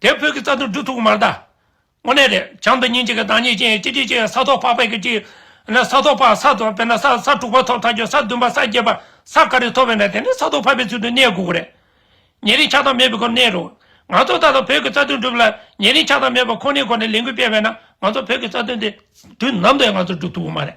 དེ་བོད་ཀྱི་རྩ་དོན་སྒྲུབ་ཐུབ་ཀྱི་མ་རེད། དངོས་གནས་རེད། བྱམས་དང་སྙིང་རྗེ་གི་བདག་ཉིད་ཅན་གཅིག་གཅིག་ཅན་ས་ཐོག་ཕག་པའི་གཅིག། ན་ས་ཐོག་ཕག་ས་དང་དཔེར་ན་ས་ས་དྲུག་པ་ཐོག་ཐག་ཆོད་ས་བདུན་པ་ས་བརྒྱད་པ་ས་ག་རེ་ཐོག་བས་ན་དེ་ནི་ས་ཐོག་ཕག་པའི་ཚུལ་དུ་གནས་དགོས་ཀྱི་རེད། ཉེ་རིང་ཆགས་སྡང་མེད་པའི་སྒོ་ནས་གནས་རོགས། ང་ཚོ་ད་ལྟ་བོད་ཀྱི་རྩ་དོན་སྒྲུབ་ལ་ཉེ་རིང་ཆགས་སྡང་མེད་པ་ཁོ་ནའི་སྒོ་ནས་ལས་འགུལ་སྤེལ་བས་ན་ང་ཚོ་བོད་ཀྱི་རྩ་དོན་དེ། དུས་ནམ་དུ་ཡང་ང་ཚོ་སྒྲུབ་ཐུབ་ཀྱི་མ་རེད།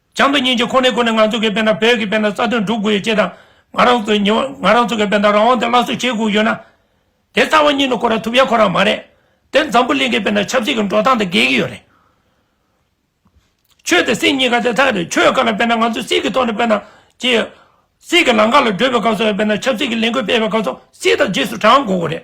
བྱང་དུ་སྙིང་རྗེ་ཁོ་ནའི་སྒོ་ནས་ང་ཚོ་གི་དཔེ་ན་བོད་ཀྱི་དཔེ་ན་རྩ་དོན་སྒྲུབ་དགོས་ཡོད་ཅེས་དང། ང་རང་ཚོ་ཉི་ང་རང་ཚོ་གི་དཔེ་ན་རང་དབང་དེ་སླར་གསོ་བྱེད་དགོས་ཡོད་ན། དེ་རྩ་བ་ཉིད་ནས་ཁོ་རང་ཐུབ་ཡ་ཁོ་རང་མ་རེད། དེར་འཛམ་བུ་གླིང་གི་དཔེ་ན་ཆབ་སྲིད་ཀྱི་འགྲོ་སྟངས་དེ་འགལ་གྱི་ཡོད་རེད། ཆོས་དང་སྲིད་གཉིས་ཀ་དེ་ཐག་རེད་ཆོས་བཀའ་ལ་དཔེ་ན་ང་ཚོ་སྲིད་ཀྱི་ཐོག་ནས་དཔེ་ན་ཅེས། སྲིད་ཀྱི་ལམ་ཁ་ལ་བགྲོད་པའི་སྐབས་སུ་དཔེ་ན་ཆབ་སྲིད་ཀྱི་ལས་འགུལ་སྤེལ་བའི་སྐབས་སུ་སྲིད་དང་རྗེས་སུ་འབྲང་དགོས་དགོས་རེད།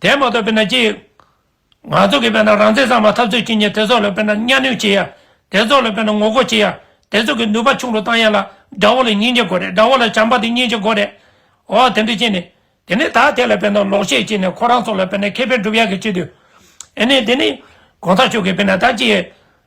དེ་མ་གཏོགས་དཔེར་ན་ཅི་ཡོད། ང་ཚོ་གིས་དཔེར་ན་རང་བཙན་གཙང་མ་འཐབ་རྩོད་བྱེད་མཁན་དེ་ཚོ་ལ་དཔེར་ན་གཉའ་གནོན་བྱེད་ཡ། དེ་ཚོ་ལ་དཔེར་ན་ངོ་རྒོལ་བྱེད་ཡ། དེ་ཚོ་གི་ནུས་པ་ཆུང་རུ་བཏང་ཡ་ལ། དགྲ་བོ་ལ་སྙིང་རྗེ་དགོས་རེད་དགྲ་བོ་ལ་བྱམས་པ་དེ་སྙིང་རྗེ་དགོས་རེད། འོ་དེ་འདྲ་བྱས་ནས། དེ་ནས་ད་དེ་ལ་དཔེར་ན་ལོག་བཤད་བྱས་ནས་ཁོ་རང་ཚོ་ལ་དཔེར་ན་ཁེ་ཕན་སྒྲུབ་ཡ་གི་བྱེད་དུས། ཨེ་ནས་དེ་ནས། གོང་ས་མཆོག་གིས་དཔེར་ན་ད་ཅི་ཡོད།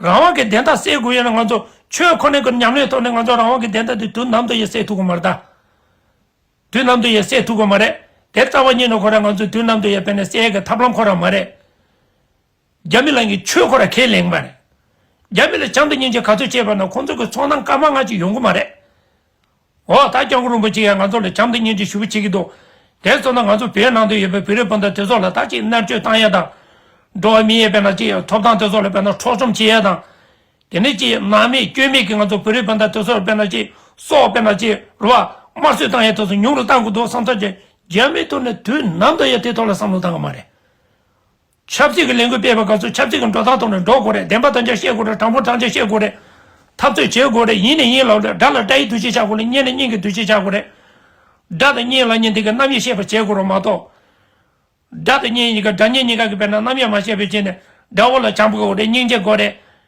རང་དབང་གི་བདེན་མཐའ་སེལ་དགོས་ཡོད་ན་ང་ཚོ་ཆོས་ཁོ་ནའི་སྒོ་ནས་ཉམས་ལེན་ཐོག་ནས་ང་ཚོ་རང་དབང་གི་བདེན་མཐའ་དེ་དུས་ནམ་དུ་ཡང་སེལ་ཐུབ་དགོས་མ་རེད་དཱ། དུས་ནམ་དུ་ཡང་སེལ་ཐུབ་དགོས་མ་རེད། དེར་རྩ་བ་ཉིད་ནས་ཁོ་རང་ང་ཚོས་དུས་ནམ་དུ་ཡང་བལྟས་ནས་སེལ་གི་ཐབས་ལམ་ཁོ་རང་མ་རེད། རྒྱ་མི་ལང་གི་ཆོས་ཁོ་རང་ཁས་ལེན་གི་མ་རེད། རྒྱ་མི་ལ་བྱམས་དང་སྙིང་རྗེ་ག་ཚོད་བྱས་པ་ན་ཁོང་ཚོ་གི་ཚོང་ནང་སྐར་མ་ལྔ་ཅིག་ཡོང་གི་མ་རེད། འོ་ད་སྐྱག་འཁོར་རིན་པོ་ཆེ་ཡང་ང་ཚོ་ལ་བྱམས་བརྩེ་སྙིང་རྗེ་ཞུ་བར་བྱེད་ཀྱི་འདུག་དེ་ཚོ་ན་ང་ཚོ་བོད་ནང་དུ་ཡོད་པའི་བོད་རིགས་སྤུན་ཟླ་དེ་ཚོ་ལ་ད་ཅིག་མནར་གཅོད་བཏང་ཡས་དང། འགྲོ་བ་མི་ཡས་བེད་ན་ཅིག་ཐོབ་ཐང་དེ་ཚོ་ལ་བེད་ན་འཕྲོག་བཅོམ་བྱེད་ཡས་དང། དེ་ནས་ཅིག་ནག་མེད་སྐྱོན་མེད་ཀྱི་ང་ཚོ་བོད་རིགས་སྤུན་ཟླ་དེ་ཚོ་ལ་བེད་ན་ཅིག་སྲོག་བེད་ན་ཅིག་རུ་བ་དམར་གསོད་བཏང་ཡས་དེ་ཚོ་ཉུང་རུ་བཏང་དགོས་འདུག་བསམ་ཚོད་ཀྱི་རྒྱ་མི་ཐུག་ནས་དུས་ནམ་དུ་ཡང་དེ་ཐོག་ལ་བསམ་བློ་བཏང་གི་མ་རེད། ཆབ་སྲིད་ཀྱི་ལས་འགུལ་སྤེལ་བའི་སྐབས་སུ་ཆབ་སྲིད་ཀྱི་འགྲོ་སྟངས་ཐོག་ནས་འགྲོ་དགོས་རེད་བདེན་པ་དང་ཆ་བཤད་དགོས་རེད་དྲང་པོ་དྲང་ཆ་བཤད་དགོས་རེད། འཐབ་རྩོད་བྱེད་དགོས་རེད་ཡིན་ནས་ཡིན་ལབ་རེད་དགྲ་ལ་དགྲ་ཡི་འདུ་ཤེས་ཆགས་དགོས་ལ་གཉེན་ལ་གཉེན་གྱི་འདུ་ཤེས་ཆགས་དགོས་རེད། དགྲ་དང་གཉེན་ལ་གཉེན་དེ་གའི་རྣམ་དབྱེ་ཤེས་པ་བྱེད་དགོས་རོགས་མ་གཏོགས། དགྲ་དང་གཉེན་གཉིས་ཀ་དགྲ་གཉེན་གཉིས་ཀ་གི་དཔེར་ན་རྣམ་དབྱེ་མ་ཤེས་པའི་ཆེད་ནས་དགྲ་བོ་ལ་བྱམས་དགོས་རེད་སྙིང་རྗེ་དགོས་རེད།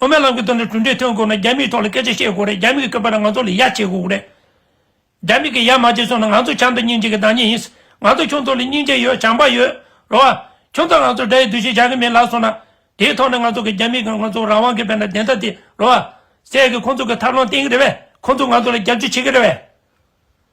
དབུ་མའི་ལམ་གྱི་དོན་དུ་གྲུབ་འབྲས་ཐོན་དགོས་ན་རྒྱ་མིའི་ཐོག་ལ་སྐད་ཆ་བཤད་དགོས་རེད་རྒྱ་མི་གི་སྐད་པར་ང་ཚོ་ལས་ཡག་བྱེད་དགོས་རེད། རྒྱ་མི་གི་ཡག་མ་བྱས་སོང་ན་ང་ཚོ་བྱམས་དང་སྙིང་རྗེ་གི་བདག་ཉིད་ཡིན། ང་ཚོ་ཁྱུང་ཚོ་ལ་སྙིང་རྗེ་ཡོད་བྱམས་པ་ཡོད། རོ་ཨ། ཁྱུང་ཚོ་ང་ཚོ་དགྲ་ཡི་འདུ་ཤེས་བྱ་གི་མེད་ལབ་སོང་ན། དེའི་ཐོག་ནས་ང་ཚོ་གི་རྒྱ་མི་གི་ང་ཚོ་རང་དབང་གི་བེད་ན་བདེན་མཐའ་དེ་རོ་ཨ། སད་གི་ཁོང་ཚོ་གི་ཐབས་ལམ་བསྟེན་གི་རེད་བས་ཁོང་ཚོ་ང་ཚོ་ལ་རྒྱབ་སྐྱོར་བྱེད་གི་རེད་བས།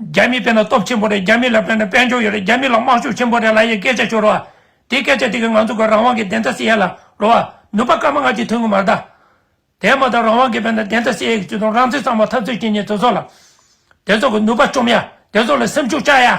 རྒྱ་མི་བས་ན་སྟོབས་ཆེན་པོ་རེད་རྒྱ་མི་ལ་བས་ན་དཔལ་འབྱོར་ཡོད་རེད་རྒྱ་མི་ལ་དམག་ཤུགས་ཆེན་པོ་རེད་ལ་ཡའི་སྐད་ཆ་ཤོར་བ། དེ་སྐད་ཆ་དེ་གིས་ང་ཚོ་གི་རང་དབང་གི་བདེན་མཐའ་བསིལ་ཡ་ལ་འགྲོ་བ། ནུབ་པ་སྐར་མ་སྔ་ཕྱི་མཐུན་གི་མ་རེད། དེ་མ་ཐག་རང་དབང་གི་བས་ན་བདེན་མཐའ་བསིལ་ཡ་གི་བརྩེ་དུང་རང་བརྩེ་གཙང་མ་འཐབ་རྩོད་བྱེད་ཉེ་དེ་ཚོ་ལ། དེ་ཚོ་གི་ནུབ་པ་བཅོམ་ཡ་དེ་ཚོ་ལ་སེམས་ཤུགས་བཅག་ཡ།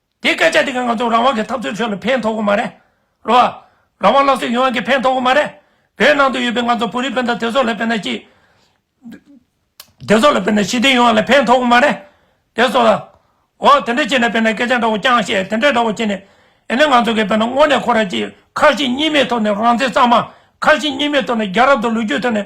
དེ་སྐད་ཆ་དེ་ག་ང་ཚོ་རང་དབང་གི་འཐབ་རྩོད་ཁྲོད་ལ་ཕན་ཐོག་གི་མ་རེད། རོ་ཨ། རང་དབང་སླར་གསོ་ཡོང་ཡང་གི་ཕན་ཐོག་གི་མ་རེད། བོད་ནང་དུ་ཡོད་པའི་ང་ཚོ་བོད་རིགས་སྤུན་ཟླ་དེ་ཚོ་ལ་དཔེར་ན་སྐྱིད། དེ་ཚོ་ལ་དཔེར་ན་ཞི་བདེ་ཡོང་བ་ལ་ཕན་ཐོག་གི་མ་རེད། དེ་ཚོ་ལ། འོ། དེ་འདྲ་བྱས་ན་དཔེར་ན་སྐད་ཆ་འདྲ་བོ་རྐྱང་བཤད་དེ་འདྲ་འདྲ་བོ་བྱས་ནས། ཨེ་ནས་ང་ཚོ་གིས་དཔེར་ན་དངོས་ནས་ཁོ་ར་གཅིག་ཁ་ཞེ་གཉིས་མེད་ཐོག་ནས་རང་བཙན་གཙང་མ། ཁ་ཞེ་གཉིས་མེད་ཐོག་ནས་རྒྱ་རབ་དང་ལོ་རྒྱུས་ཐོག་ནས་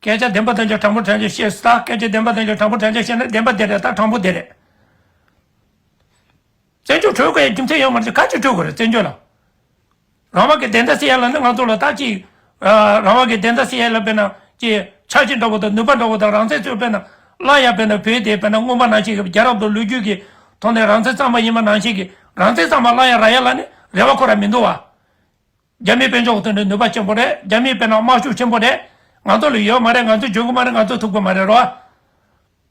སྐད་ཆ་བདེན་པ་དང་ཆ་དྲང་པོ་དྲན་ཆ་བཤད་ས་སྐད་ཆ་བདེན་པ་དང་ཆ་དྲང་པོ་དྲན་ཆ་བཤད་ན་བདེན་པ་དེ་རེད་དང་དྲང་པོ་དེ་རེད། བཙན་བྱོལ་གྲོལ་དགོས་ཡ་རྒྱུ་མཚན་ཡོད་མ་རེད་ག་ཅིག་གྲོལ་དགོས་རེད་བཙན་བྱོལ་ལ། རང་དབང་གི་བདེན་མཐའ་སེལ་ཡ་ལ་ནི་ང་ཚོ་ལ་ད་ཅིག་རང་དབང་གི་བདེན་མཐའ་སེལ་ཡ་ལ་དཔེར་ན་ཅི་ཆགས་ཅིག་འདྲ་བོ་དང་ནུས་པ་འདྲ་བོ་དང་རང་བཙན་ཚོད་དཔེར་ན་སླ་ཡ་དཔེར་ན་བོད་དེ་དཔེར་ན་རྔོན་པ་ནང་བཞིན་གྱི་རྒྱལ་རབས་དང་ལོ་རྒྱུས་ཀྱི་ཐོག་ནས་རང་བཙན་གཙང་མ་ཡིན་པ་ནང་བཞིན་གྱི་རང་བཙན་གཙང་མ་སླ་ཡ་ར་ཡ་ལ་ནི་རེ་བ་ཁོ་ར་མི་འདུག་བ། རྒྱ་མིའི་དཔེ་འཇོག་ཐུབ་ན་ནུས་པ་ཆེན་པོ་རེད་རྒྱ་མིའི་དཔེ་ན་དམག་ཤུགས་ཆེན་པོ་རེད། ང་ཚོ་ལ་ཡོད་མ་རེད་ང་ཚོས་འཇོན་གི་མ་རེད་ང་ཚོས་ཐུབ་གི་མ་རེད་རོ།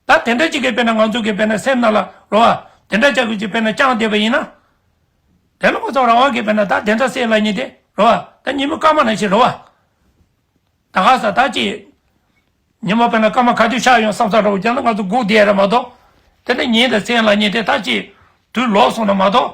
ད་དེ་འདྲ་གཅིག་གི་དཔེ་ན་ང་ཚོ་གི་དཔེ་ན་སེམས་ན་ལ་རོ། དེ་འདྲ་ཅག་གི་དཔེ་ན་རྐྱང་བསྡད་པ་ཡིན་ན། དེ་ལ་ཁོ་ཚོ་རང་དབང་གི་དཔེ་ན་ད་དེ་འདྲ་སེ་ལ་ཉི་དེ་རོ། ད་ཉི་མི་སྐར་མ་ན་ཤི་རོ། ད་ག་ས་ད་ཅི། ཉི་མ་དཔེ་ན་སྐར་མ་ག་དུས་ཤར་ཡོང་བསམ་ས་རོ་རྒྱ་ནག་ང་ཚོ་སྒུག་བསྡད་ཡ་རེད་མ་གཏོགས། དེ་འདྲ་ཉིན་དང་སེ་ལ་ཉི་དེ་ད་ཅི། དུས་ལོག་སོང་ན་མ་གཏོགས།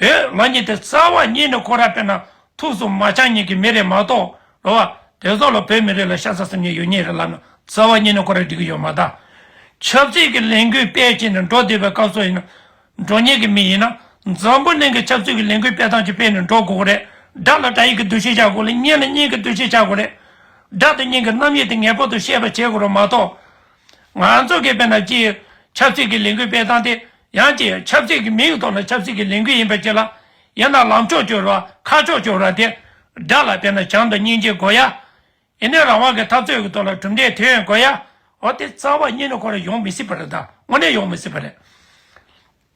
བོད་མ་ཉིད་དེ་རྩ་བ་ཉིད་ནས་ཁོ་ར་དཔེར་ན་ཐུགས་སུ་མ་ཆང་ཉིད་ཀྱི་མི་རེད་མ་གཏོགས་ལོ་བ་དེ་ཚོ་ལ་བོད་མི་རིགས་ལ་ཤ་ཚ་སེམས་ཉིད་ཡོད་ཉིད་རེད་ལབ་ན་རྩ་བ་ཉིད་ནས་ཁོ་ར་འགྲིག་གི་ཡོད་མ་ད། ཆབ་སྲིད་ཀྱི་ལས་འགུལ་སྤེལ་བྱས་ནས་འགྲོ་བསྡད་པའི་སྐབས་སུ་ཡིན་ན་འགྲོ་ཉེས་ཀྱི་མི་ཡིན་ན་འཛམ་བུ་གླིང་གི་ཆབ་སྲིད་ཀྱི་ལས་འགུལ་སྤེལ་སྟངས་ཀྱི་སྤེལ་ནས་འགྲོ་དགོས་ཀྱི་རེད་དགྲ་ལ་དགྲ་ཡིག་གི་འདུ་ཤེས་བྱ་དགོས་ལ་གཉེན་ལ་གཉེན་གྱི་འདུ་ཤེས་བྱ་དགོས་རེད། དགྲ་དང་གཉེན་གྱི་རྣམ་དབྱེ་དེ་ངེས་པར་དུ་ཤེས་པ་བྱེད་དགོས་རོགས་མ་གཏོགས། ང་ཚོ་གིས་དཔེར་ན་སྤྱིར་ཆབ་སྲིད་ཀྱི་ལས་འགུལ་སྤེལ་སྟངས་དེ་ཡང་སྤྱིར་ཆབ་སྲིད་ཀྱི་མིང་ཐོག་ནས་ཆབ་སྲིད་ཀྱི་ལས་འགུལ་ཡིན་པའི་ཕྱིར་ལ། ཡིན་ན་ལམ་ཕྱོགས་བཅུར་བ་ཁ་ཕྱོགས་བཅུར་བ་དེ་འདྲ་ལ་དཔེར་ན་བྱམས་དང་སྙིང་རྗེ་དགོས་ཡ། ཡིན་ན་རང་དབང་གི་འཐབ་རྩོད་ཀྱི་ཐོག་ལ་གྲུབ་འབྲས་དེ་བས་དགོས་ཡ། འོ་དེ་རྩ་བ་ཉིད་ནས་ཁོ་ར་ཡོང་མི་སྲིད་པ་རེད་ད་དངོས་གནས་ཡོང་མི་སྲིད་པ་རེད།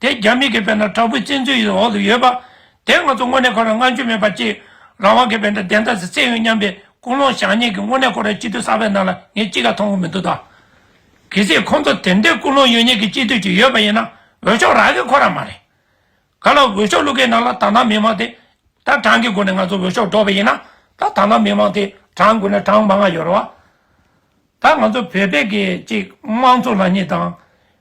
དེ་རྒྱ་མི་གི་བེ་ན་དྲག་པོའི་བཙན་འཛུལ་ཡི་འོག་ཏུ་ཡོད་པ། དེ་ང་ཚོ་དངོས་གནས་ཁོ་ར་སྔ་འགྱུར་མེད་པ་གཅིག་རང་དབང་གི་བེ་འདྲ་བདེན་མཐའ་སི་བཙན་ཡོད་སྙམ་པའི་ཀུན་སློང་བཞག་ཉེས་ཀི་དངོས་གནས་ཁོ་ར་སྤྱི་འཐུས་གསར་པའི་ནང་ལ་ངས་ཅི་ག་མཐོང་གི་མི་འདུག་ད། གི་སི་ཁོང་ཚོ་དེ་འདྲའི་ཀུན་སློང་ཡོད་ཉེས་ཀི་སྤྱི་འཐུས་གཅིག་ཡོད་པ་ཡིན་ན་འོས་ཤོག་རག་གི་ཁོ་ར་མ་རེད། ག་ལ་འོས་ཤོག་བླུག་གི་ནང་ལ་དང་ཐང་མི་མང་དེ་ད་གྲངས་གི་སྒོ་ནས་ང་ཚོ་འོས་ཤོག་སྒྲོག་པ་ཡིན་ན་ད་དང་ཐང་མི་མང་དེ་གྲངས་དགོས་ན་གྲངས་མང་ང་ཡོད་ར་བ། ད་ང་ཚོ་བོད་བེ་གི་གཅིག་དམངས་གཙོ་ལ་ཉེས་དང།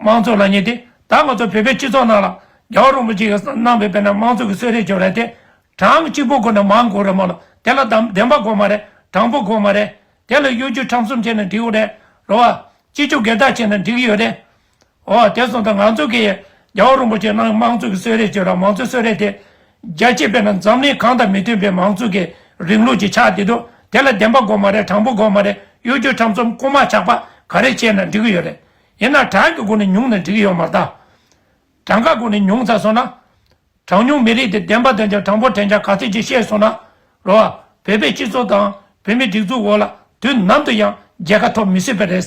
མང་ཚོགས་ལ་ཉེ་སྟེ། ད་ང་ཚོ་བོད་པའི་སྤྱི་ཚོགས་ནང་ལ། རྒྱ་བོད་རོང་པོ་གཅིག་གི་ནང་བོད་པའི་ནང་མང་ཚོགས་ཀྱི་གསོད་རེས་བྱོས་རེས་དེ། གྲངས་གཅིག་པོ་དགོས་ན་མང་དགོས་རེད་མ་གློ་དེ་ལ་དམ་བདེན་པ་དགོས་མ་རེད་དྲང་པོ་དགོས་མ་རེད། དེ་ལ་གཡོ་སྒྱུ་ཁྲམ་གསུམ་བྱས་ན་འགྲིག་འོ་རེད་རོ། བ། སྤྱི་སྤྱོད་སྒེར་བདག་བྱས་ན་འགྲིག་ཡོད་རེད། བ། དེ་སོང་ད་ང་ཚོ་གི། རྒྱ་བོད་རོང་པོ་གཅིག་ནང་མང་ཚོགས་ཀྱི་གསོད་རེས་བྱོས་ར་མང་ཚོགས་གསོད་རེས་དེ། རྒྱ་སྤྱི་དཔེར་ན་འཛམ་གླིང་གང་དང་མི་མཐུན་པའི་མང་ཚོགས་ཀྱི་རིང་ལུགས་ཀྱི་ཆགས་དེ་འདུག་དེ་ལ་བདེན་པ་དགོས་མ་རེད་དྲང་པོ་དགོས་མ་རེད་གཡོ་སྒྱུ་ཁྲམ་གསུམ་རྐུ་མ་ཆགས་པ་ག་རེ་བྱས་ན་འགྲིག་ཡོད་རེད། ཡིན་ན་གྲངས་ཀྱི་སྒོ་ནས་ཉུང་ནས་འགྲིག་གི་ཡོད་མ་རྟགས། གྲངས་ཀ་སྒོ་ནས་ཉུང་ཚ་སོང་ན། གྲངས་ཉུང་མི་རིགས་དེ་བདེན་པ་དོན་བྱ་གྲངས་འབོར་དྲན་བྱ་ག་ཚོད་ཅིག་བཤད་སོང་ན་རུང། བོད་པའི་སྤྱི་ཚོགས་དང་བོད་མིའི་སྒྲིག་འཛུགས་འོག་ལ་དུས་ནམ་དུ་ཡང་རྒྱལ་ཁ་ཐོབ་མི་སྲིད་པ་རེད།